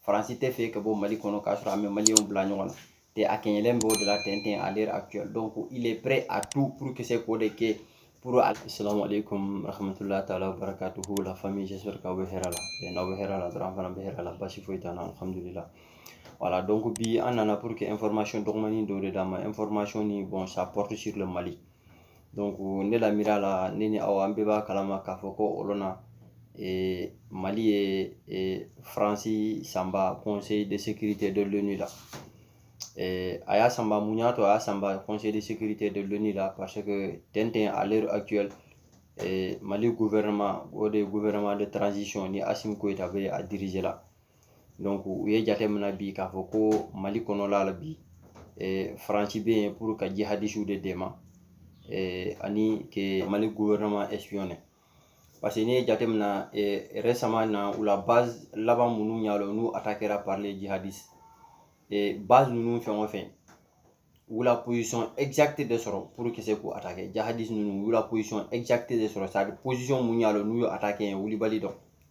faransi tɛ fɛ ka bɔ mali kɔnɔ k'a sɔrɔ a ma maliyɛnw bila ɲɔgɔn na tɛ a kɛɲɛlen b'o de la tɛntɛn à l'heure actuelle donc il est prêt à tout pour que se k'o de kɛ pour assalamu alaikum rahmatullahi taala wa barakatuhu la famille j'espère k'aw bɛ hɛrɛ la n'aw bɛ hɛrɛ la dɔrɔn an fana bɛ hɛrɛ la basi foyi t'an na alhamdulillah voilà donc bi an nana pour que information dɔgɔmani dɔ de d'aw ma information nin bon ça porte sur le mali donc ne la miira la ne ni aw an bɛɛ b'a kalama k'a fɔ ko o lon na eh, mali ye eh, faransi sanba conseil de sécurité de l'onu la eh, a y'a sanba mun y'a to a y'a sanba conseil de sécurité de l'onu la parce que tɛntɛn à l'heure actuelle eh, mali gouvernement o de ye gouvernement de transition ni asimi goyita bɛ a diriger la u ye jate minɛ bi k'a fɔ ko mali kɔnɔla la bi faransi bɛ yen pur ka ji hadisiw de dɛmɛ ani mali guwɛrɛnaman ɛsipiyɔn paseke n'i ye jate minɛ yɛrɛ sama na u la ba laban minnu y'a la n'u a ta kɛra parilen ji hadisi ba ninnu fɛn o fɛn wula posɔn ɛkizati de sɔrɔ puru ki se k'u a ta kɛ jahadi ninnu wula posɔn ɛkizati de sɔrɔ sari posɔn mun y'a la n'u ye a ta kɛ wulibali dɔn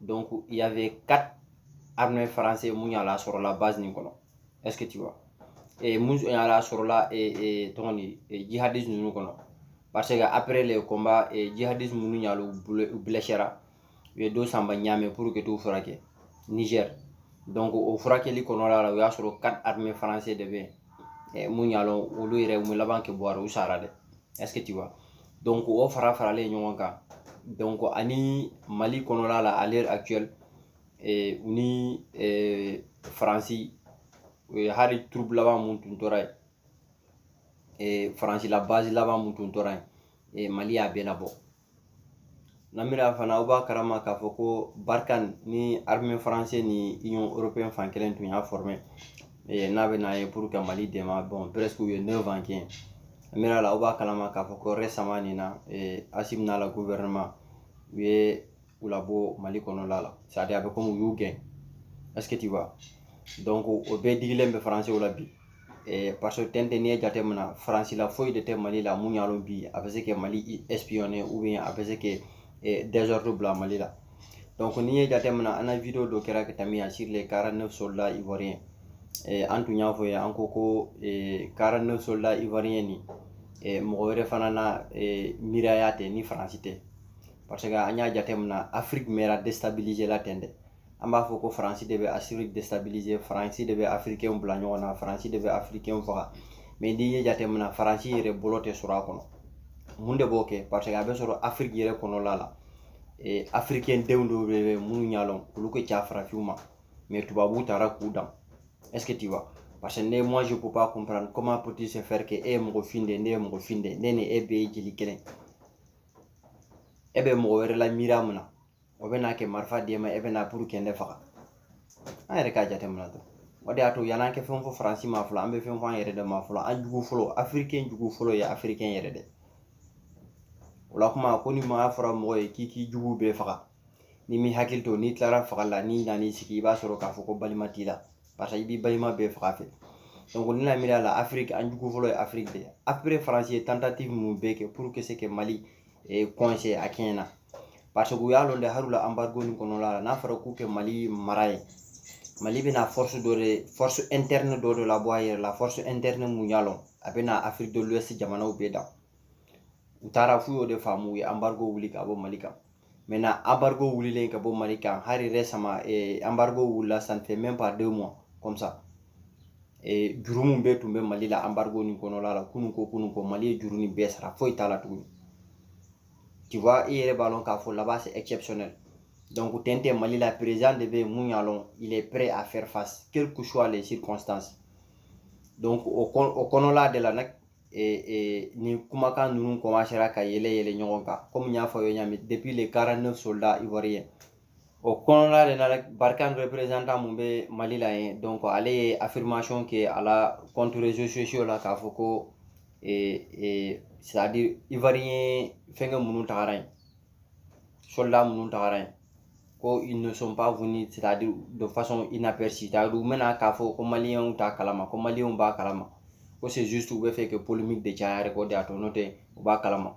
donc il y avait quatre armées françaises mun y'a lɔn a sɔrɔla base nin kɔnɔ est-ce que tu vois et mun y'a lɔn a sɔrɔla et tɔgɔ ni jihadistes ninnu kɔnɔ parce que après les combats jihadistes minnu y'a lɔn u blessera u ye dɔ sanba Niamey pour que t'u furakɛ Niger donc o furakɛli kɔnɔla la u y'a sɔrɔ quatre armées françaises de bɛ yen mun y'a lɔn olu yɛrɛ u ma laban kɛ bɔ a ra u sara dɛ vois donc o fara faralen ɲɔgɔn kan donc ani mali kɔnɔla la à l'heure actuelle eh, u ni eh, faransi hali troupe laban mun tun tora yen eh, faransi la base laban mun tun tora yen eh, mali y'a bɛɛ labɔ n na miira fana aw b'a karama k'a fɔ ko barkhane ni armée français ni union européenne fan kelen tun y'a former eh, n'a bɛ na yen pour que mali dɛmɛ bon presque u ye 9 ans kɛ n na miira la aw b'a kalama k'a fɔ ko récemment nin na eh, asimi n'a la gouvernement u ye u labɔ mali kɔnɔla la c'est à dire a bɛ komi u y'u gɛn est ce que tu vois donc o bɛɛ digilen bɛ françaisw la bi eh, parce que tɛntɛn n'i ye jate minɛ faransi la foyi de tɛ mali la mun y'a lɔn bi a bɛ se kɛ mali espionner ou bien a bɛ se kɛ eh, désordre bila mali la donc n'i ye jate minɛ an na video dɔ kɛra ka tɛmɛ yan sur les 49 soldats ivoiriens eh, an tun y'a fɔ ye an ko ko eh, 49 soldats ivoiriens nin eh, mɔgɔ wɛrɛ fana na eh, miiraya tɛ ni faransi tɛ parce que an y'a jate minɛ afrique mɛra déstabiliser la tɛntɛ an b'a fɔ ko faransi de bɛ afiriki déstabiliser faransi de bɛ afirikɛnw bila ɲɔgɔn na faransi de bɛ afirikɛnw faga mais n'i y'a jateminɛ faransi yɛrɛ bolo tɛ sɔrɔ a kɔnɔ mun de b'o kɛ parce que a bɛ sɔrɔ afiriki yɛrɛ kɔnɔla la ee afirikɛn denw dɔw bɛ yen mun y'a lɔn olu ka ca farafinw ma mais tubabuw taara k'u dan est ce que tu vois parce que ne moi je peux pas comprendre comment peut-il se faire que e ye mɔgɔ fin de ye ne ye mɔgɔ fin de ye ne ni e bɛɛ ye jeli kelen e bɛ mɔgɔ wɛrɛ la miiriya mun na o bɛ na ka marifa d'e ma e bɛ na pour ka ne faga an yɛrɛ k'a jateminɛ dɔrɔn o de y'a to yan'an ka fɛn fɔ faransi ma fɔlɔ an bɛ fɛn fɔ an yɛrɛ de ma fɔlɔ an jugu fɔlɔ afirikɛn jugu fɔlɔ ye afirikɛn yɛrɛ de o la kuma ko ni maa fɔra mɔgɔ ye k'i k'i jugu bɛɛ faga n'i m'i hakili to n'i tilara faga la n'i nan'i sigi i b'a sɔrɔ k'a fɔ ko balima t'i la parce que i b'i balima bɛɛ faga fɛ donc ne la miiriya la afiriki an jugu fɔlɔ ye afiriki de ye après faransi ye tentative mun bɛɛ kɛ pour k'u se ka mali e coincer a kɛɲɛ na parce que u y'a lɔn dɛ hali u la embargo nin kɔnɔla la n'a fɔra k'u ka mali mara ye mali bɛna force dɔ de force interne dɔ de labɔ a yɛrɛ la force interne mun y'a lɔn a bɛna afrique de l'ouest jamanaw bɛɛ dan u taara f'u y'o de faamu u ye embargo wuli ka bɔ mali kan maintenant embargo wulilen ka bɔ mali kan hali récemment embargo wulila ça ne fait même pas deux mois comme ça ee juru min bɛɛ tun bɛ mali la embargo nin kɔnɔla la kununkɔ kununkɔ mali ye juru nin bɛɛ sara foyi t'a la tuguni tu vois i yɛrɛ b'a lɔn k'a fɔ là-bas c'est exceptionnel donc ten tɛ mali la président de bɛ mun y'a lɔn il est prêt à faire face quel que soit les circonstances donc o kɔnɔla de la nag nin kumakan ninnu commencera ka yɛlɛ yɛlɛ ɲɔgɔn kan comme n y'a fɔ aw ye ɲa min depuis les 49 soldats ivoiriens o kɔnɔna de la barkhane représentant mun bɛ mali la yen donc ale ye affirmation kɛ a la compte réseaux sociaux la k'a fɔ ko ee ee c'est à dire ivoirien fɛnkɛ minnu tagara yen soldat minnu tagara yen ko ils ne sont pas venus c'est à dire de façon inaperçue c'est à dire u ma na k'a fɔ ko maliyɛnw t'a kalama ko maliyɛnw b'a kalama ko c'est juste u b'a fɛ ka polémique de caya yɛrɛ k'o de y'a to n'o tɛ u b'a kalama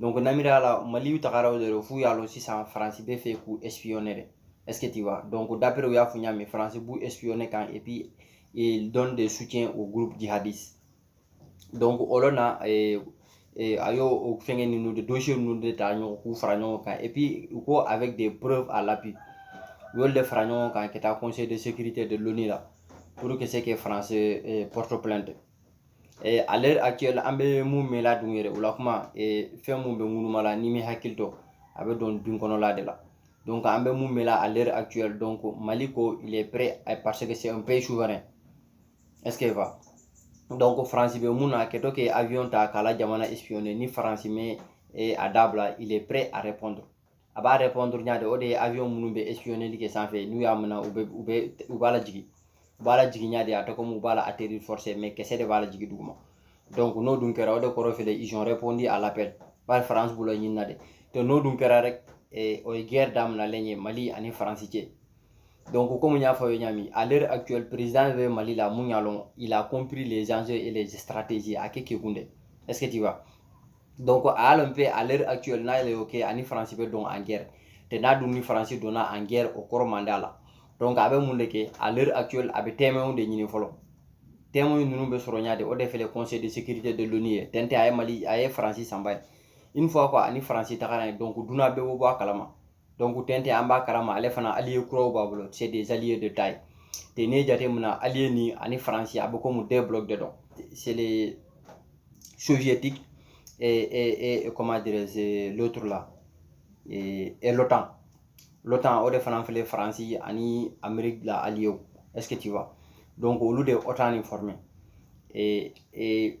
donc n na miiriya la maliw tagara o de la f'u y'a lɔn sisan faransi b'a fɛ k'u espionner de est ce que tu vois donc d'après u y'a fɔ n y'a mɛn faransi b'u espionner kan et puis il donne des soutiens au groupe djihadiste donc o lɔ na eh, eh, a y'o o fɛngɛ ninnu de dossier ninnu de ta ɲɔgɔn k'u fara ɲɔgɔn kan et puis u ko avec des preuves à l'appui u y'olu de fara ɲɔgɔn kan ka taa conseil de sécurité de l'ONU la pour k'u se ka France eh, porte plainte ale a kɛ an bɛ mun mɛn la dun yɛrɛ o la kuma fɛn mun bɛ ŋunu la n'i m'i hakili to a bɛ dɔn dun kɔnɔla de la an bɛ mun mɛn la ale a kɛ dɔn ko mali ko lɛpere a paseke sɛ bɛɛ ye su wɛrɛ ko faransi bɛ mun na a kɛtɔ kɛ ta k'a la jamana ni faransi mɛ a dabila lɛpere a yɛrɛ a b'a répondre ɲa de o de ye avion minnu bɛ espionneli kɛ sanfɛ n'u y'a minɛ u bɛ u bɛ u b'a lajigin u b'a lajigin ɲa de a tɛ komi u b'a la atterrir forcé mais kisɛ de b'a lajigin duguma donc n'o dun kɛra o de kɔrɔ fɛlɛ ils ont répondu à l'appel bari France b'olu ɲini na de donc n'o dun kɛra rek eh, o ye guerre daminalen ye Mali ani France cɛ donc comme n y'a fɔ aw ye ɲa min à l'heure actuelle président bɛ Mali la mun y'a lɔn il a compris les enjeux et les stratégies a ka kekun dɛ est ce que tu vois donc a y'a lɔn pe à l'heure actuelle n'a y'ale ok a ni faransi bɛ don en guerre tɛ n'a dun ni faransi donna en guerre o kɔrɔ man d'a la donc a bɛ mun de kɛ à l'heure actuelle a bɛ témoinw de ɲini fɔlɔ témoinw ninnu bɛ sɔrɔ ɲa de o de fɛlɛ conseil de sécurité de l'ONU ye tɛntɛn a ye mali a ye faransi sanba yen une fois ko a ni faransi tagara yen donc duɲa bɛɛ bɛ bɔ a kalama donc tɛntɛn an b'a kalama ale fana allié kuraw b'a bolo c'est des alliés de taille te ne jateminɛ na allié ni ani faransi a bɛ komi deux blocs de don c'est les soviétiques et, et, et comment dirais-je l'autre là et, et l'OTAN l'OTAN o de fana filɛ faransi ani amérique la allié est ce que tu vois donc olu de ye OTAN ni former et, et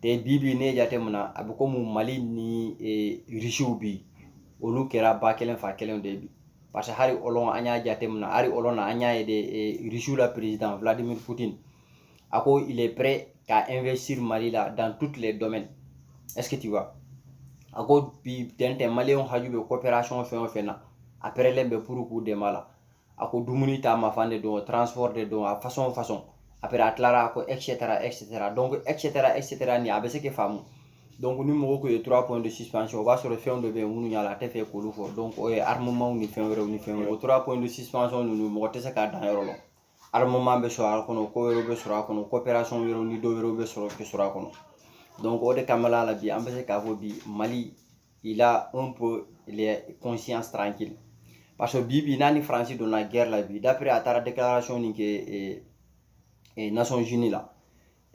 tɛ bi bi ne jateminɛ na a bɛ komi mali ni irisiw bi olu kɛra ba kelen fa kelen de bi parce que hali o lon an y'a jateminɛ hali o lon na an y'a ye de irisiw la perezidan vladimir putin a ko il est prêt ka investir mali la dans toutes les domaines est ce que tu vois a ko bi tɛntɛn maliyɛnw haju bɛ coopération fɛn o fɛn na a pɛrɛlen bɛ puru k'u dɛmɛ a la a ko dumuni ta mafan de don transport de don a façon façon après a tilara ko etc etc donc etc etc ni a bɛ se k'i faamu donc ni mɔgɔ ko i ye trois points de suspension o b'a sɔrɔ fɛn dɔ bɛ yen minnu y'a lɔn a tɛ fɛ k'olu fɔ donc o ye armement ni fɛn wɛrɛw ni fɛn wɛrɛw o trois points de suspension ninnu mɔgɔ tɛ se k'a dan yɔrɔ lɔn armement bɛ sɔrɔ a kɔnɔ ko wɛrɛw bɛ sɔrɔ a kɔnɔ coopération wɛrɛw ni dɔ wɛrɛw bɛ se ka sɔrɔ a kɔnɔ donc o de kama la bi an bɛ se k'a fɔ bi mali il a un peu les conscience tranquille parce que bi bi n'a ni France donna guerre la bi d'après a taara déclaration ni kɛ eh, eh, Nations Unies la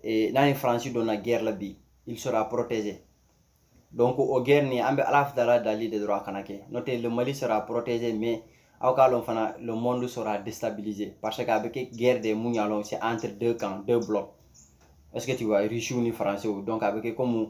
eh, n'a ni France donna guerre la bi il sera protégé donc o guerre ni an bɛ Ala fitala dali de dɔrɔn a kana kɛ n'o tɛ le Mali sera protégé mais aw k'a lɔn fana le monde sera déstabilisé parce que a bɛ kɛ guerre de mun y'a lɔn c'est entre deux camps deux blocs est-ce que tu vois Russie ni Français donc a bɛ kɛ comme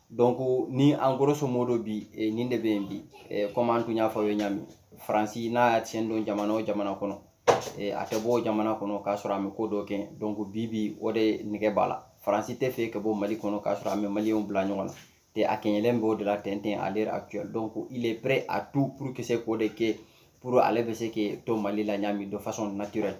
donc ni en grosso modo bi eh, nin de bɛ yen bi eh, comme an tun y'a fɔ aw ye ɲa min faransi n'a y'a sen don jamana o jamana kɔnɔ eh, a tɛ bɔ o jamana kɔnɔ k'a sɔrɔ a ma ko dɔ kɛ donc bi bi o de nɛgɛ b'a la faransi tɛ fɛ ka bɔ mali kɔnɔ k'a sɔrɔ a ma maliyɛnw bila ɲɔgɔn na tɛ a kɛɲɛlen b'o de la tɛntɛn à l'heure actuelle donc il est prêt à tout pour ka se k'o de kɛ pour ale bɛ se k'i to mali la ɲa min de façon naturelle